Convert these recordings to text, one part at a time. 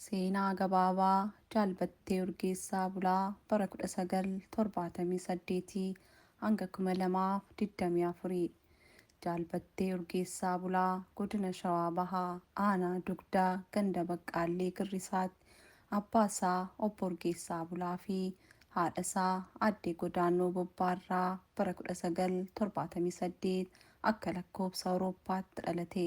Seenaa Gabaabaa Jaal Battee Urgeessaa Bulaa bara 1978-2024 Jaal Battee Urgeessaa Bulaa Godina Shawaa Bahaa Aanaa Dugdaa Ganda Baqqaallee Girrisaatti abbaa isaa Obbo Urgeessaa Bulaa fi haadha isaa Aadde Godaannoo Bobbaa irraa bara 1978 akka lakkoobsa Awurooppaatti dhalate.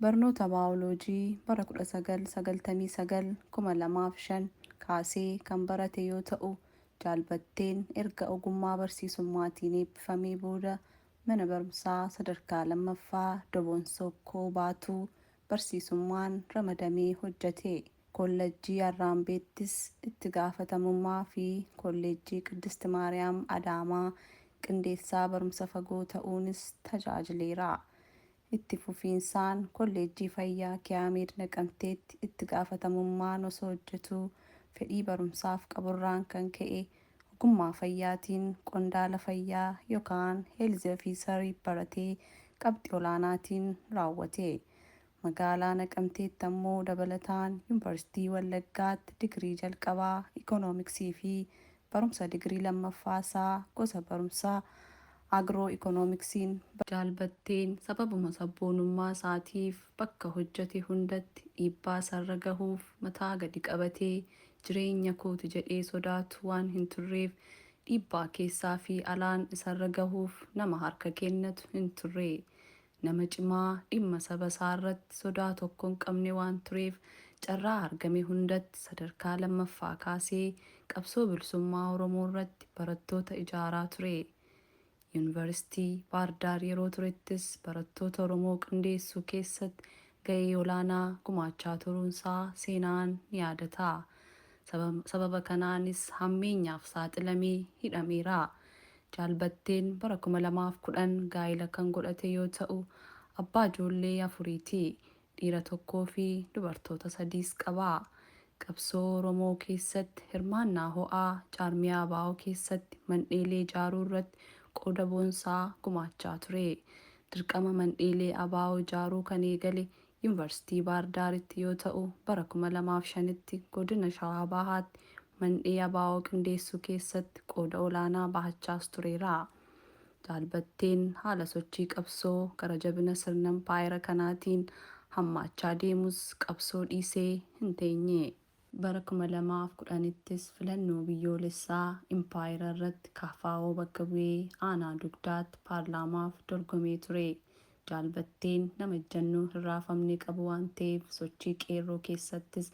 Barnoota Baayoloojii bara 1999, 2005, kaasee kan barate yoo ta'u, Jaal Batteen erga ogummaa barsiisummaatiin eebbifamee booda mana barumsaa sadarkaa lammaffaa Doboon Sookkoo Baatuu barsiisummaan ramadamee hojjete. Kollajjii Arraambeettis itti gaafatamummaa fi Kolleejjii Qiddist Maariyaam Adaamaa qindeessaa barumsa fagoo ta'uunis tajaajileera. Itti fufiinsaan Kolleejjii Fayyaa Kiyaameed Naqamteetti itti gaafatamummaan osoo hojjetuu fedhii barumsaaf qaburraan kan ka'e ogummaa fayyaatiin qondaala fayyaa yokaan Health Officer baratee qabxii olaanaatiin raawwate. Magaalaa Naqamteetti ammoo dabalataan Yunvarsiitii Wallaggaatti digirii jalqabaa Economics fi Barumsa digirii lammaffaa isaa gosa barumsaa Agiroo Ikoonomiksiin. Jaal Batteen sababuma sabboonummaa isaatiif bakka hojjate hundatti dhiibbaa isarra gahuuf mataa gadi qabatee jireenya kooti jedhee sodaatu waan hin turreef dhiibbaa keessaa fi alaan isarra gahuuf nama harka kennatu hin turre. Nama cimaa, dhimma saba isaa irratti sodaa tokko hin qabne waan tureef carraa argame hundatti sadarkaa lammaffaa kaasee qabsoo bilisummaa Oromoo irratti barattoota ijaaraa ture. Yuunivarsiitii Baardaar yeroo turettis barattoota Oromoo qindeessuu keessatti ga'ee olaanaa gumaachaa turuun isaa seenaan ni yaadata. Sababa kanaanis hammeenyaaf saaxilamee hidhameera. Jaal Batteen bara 2010 gaa'ila kan godhate yoo ta'u, abbaa ijoollee afuriiti. Dhiira tokkoofi dubartoota sadiis qaba. Qabsoo Oromoo keessatti hirmaannaa ho'aa jaarmiyaa abo keessatti mandheelee ijaaruu irratti qooda boonsaa gumaachaa ture. Dirqama mandheelee abo ijaaruu kan eegale Yunvarsitii Baahir Daaritti yoo ta'u, bara 2005tti Godina Shawaa Bahaatti mandhee abo qindeessuu keessatti qooda olaanaa bahachaas tureera. Jaal Batteen haala sochii qabsoo gara jabina sirna impaayera kanaatiin hammaachaa deemus qabsoo dhiisee hin teenye. Bara 2010ttis filannoo biyyoolessaa impaayera irratti kfo bakka bu'ee aanaa Dugdaatti paarlaamaaf dorgomee ture. Jaal Batteen nama ejjannoo hin raafamne qabu waan ta'eef sochii Qeerroo keessattis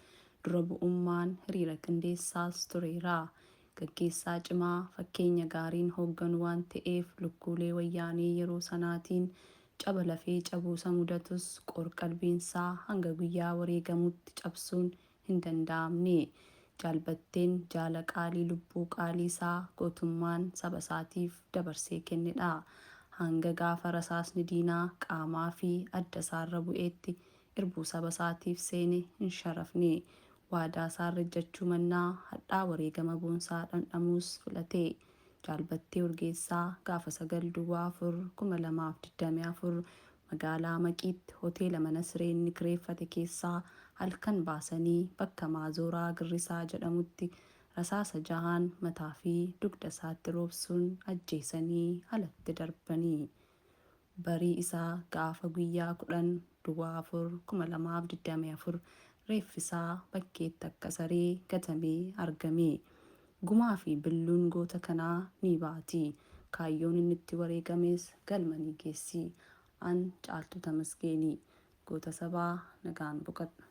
dura bu'ummaan hiriira qindeessaas tureera. Gaggeessaa cimaa fakkeenya gaariin hoogganu waan ta'eef lukkuulee wayyaanee yeroo sanaatiin Caba lafee cabuu isa mudatus qoor-qalbiinsaa hanga guyyaa wareegamutti cabsuun hin danda'amne. Jaal Batteen jaala qaalii lubbuu qaaliisaa gootummaan sabasaatiif dabarsee kennedha. Hanga gaafa rasaasni diinaa qaamaafi addasaarra bu'eetti irbuu sabasaatiif seene hin sharafne. Waadaasaa irra ejjachuu mannaa hadhaa wareegama boonsaa dhandhamuus filate. Jaal Battee Urgeessaa gaafa 9 Duwwaa 4 2024 magaalaa Maqiitti hoteela mana siree inni kireeffate keessaa halkan baasanii bakka Maazooraa Girrisaa jedhamutti rasaasa jahaan mataa fi dugda isaatti roobsuun ajjeesanii alatti darbanii Barii isaa gaafa guyyaa 10 Duwwaa 4 2024 reeffi isaa bakkeetti akka saree gatamee argame. Gumaa fi billuun goota kanaa ni baati. Kaayyoon inni itti wareegames galma ni geessi. An Caaltuu Tamasgeeni. Goota sabaa nagaan boqadhu.